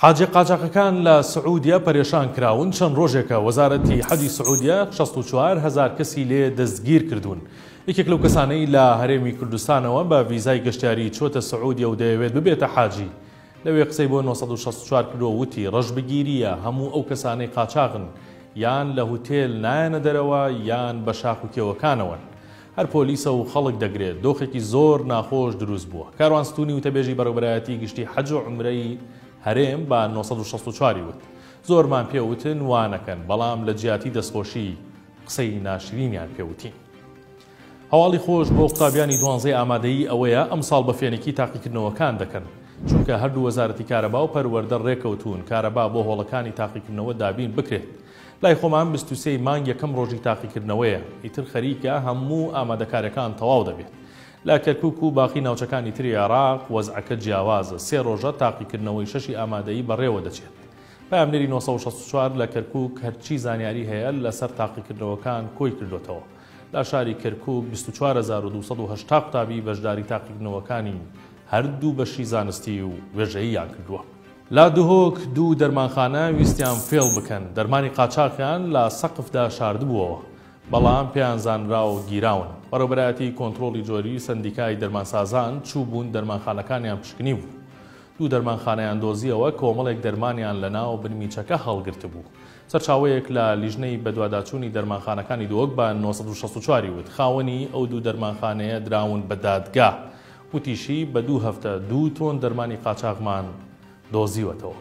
حاجی قاچاخەکان لە سعودیە پەرێشان کراون، چەند ڕۆژێکە وەزارەتی حەجی سعودیە شەست و چوار هەزار کەسی لێ دەستگیر کردوون. یەکێک لەو کەسانەی لە هەرێمی کوردستانەوە بە ڤیزای گەشتیاری چووەتە سعودیە و دەیەوێت ببێتە حاجی، لەوێ قسەی بۆ نۆ سەد و شەست و چوار کرد و وتی، ڕەشبگیرییە هەموو ئەو کەسانەی قاچاغن، یان لە هوتێل نایەنە دەرەوە یان بە شاخ و کێوەکانەوەن. هەر پۆلیسە و خەڵک دەگرێت، دۆخێکی زۆر ناخۆش دروست بووە. کاروان ستوونی وتەبێژی بەڕێوەبەرایەتیی گشتیی حەج و عومرەی هەرێم بە نۆ سەد و شەست و چوار ی وت، زۆرمان پێ وتن وا نەکەن، بەڵام لە جیاتی دەستخۆشی قسەی ناشرینیان پێ وتین. هەواڵی خۆش بۆ قوتابیانی دوانزەی ئامادەیی ئەوەیە ئەمساڵ بە فێنکی تاقیکردنەوەکان دەکەن، چونکە هەردوو وەزارەتی کارەبا و پەروەردە رێککەوتوون کارەبا بۆ هۆڵەکانی تاقیکردنەوە دابین بکرێت. لای خۆمان بیست و سێ ی مانگ یەکەم ڕۆژی تاقیکردنەوەیە، ئیتر خەریکە هەموو ئامادەکاریەکان تەواو دەبێت. لە کەرکوک و باقی ناوچەکانی تری عێراق وەزعەکە جیاوازە، سێ ڕۆژە تاقیکردنەوەی شەشی ئامادەیی بەڕێوەدەچێت. پەیامنێری نۆ سەد و شەست و چوار لە کەرکوک هەرچی زانیاری هەیە لەسەر تاقیکردنەوەکان کۆی کردۆتەوە. لە شاری کەرکوک بیست و چوار هەزار و دوو سەد و هەشتا قوتابی بەشداری تاقیکردنەوەکانی هەردوو بەشی زانستی و وێژەییان کردووە. لە دهۆک دوو دەرمانخانە ویستیان فێڵ بکەن، دەرمانی قاچاخیان لە سەقفدا شاردبووەوە، بەڵام پێیان زانرا و گیراون. بەڕێوەبەرایەتیی کۆنترۆڵی جۆری سەندیکای دەرمانسازان چووبوون دەرمانخانەکانیان پشکنیبوو. دوو دەرمانخانەیان دۆزییەوە کۆمەڵێک دەرمانیان لەناو بنمیچەکە هەڵگرتبوو. سەرچاوەیەک لە لیژنەی بەدواداچوونی دەرمانخانەکانی دهۆک بە نۆ سەد و شەست و چوار ی وت، خاوەنی ئەو دوو دەرمانخانەیە دراون بە دادگا وتیشی، بە دوو هەفتە دوو تۆن دەرمانی قاچاغمان دۆزیوەتەوە.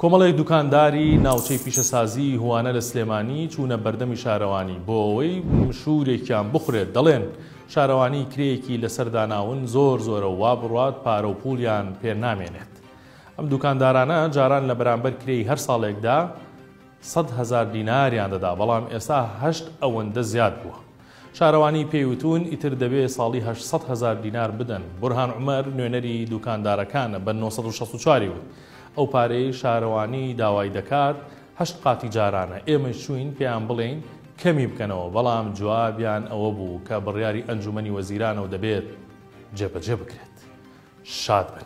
کۆمەڵێک دوکانداری ناوچەی پیشەسازیی هوانە لە سلێمانی چوونە بەردەمی شارەوانی بۆ ئەوەی مشوورێکیان بخورێت، دەڵێن، شارەوانی کرێیەکی لەسەر داناون زۆر زۆرە و وا بڕوات پارە و پووڵیان پێ نامێنێت. ئەم دوکاندارانە جاران لە بەرامبەر کرێی هەر ساڵێکدا سەد هەزار دیناریان دەدا، بەڵام ئێستا هەشت ئەوەندە زیاد بووە. شارەوانی پێی وتوون، ئیتر دەبێ ساڵی هەشت سەد هەزار دینار بدەن. بورهان عومەر، نوێنەری دووکاندارەکانە، بە نۆ سەد و شەست و چوار ی وت، ئەو پارەیەی شارەوانی داوای دەکات، هەشت قاتی جارانە. ئێمەیش چووین پێیان بڵێین کەمی بکەنەوە، بەڵام جوابیان ئەوە بوو کە بڕیاری ئەنجوومەنی وەزیرانە و دەبێت جێبەجێ بکرێت. شاد بن.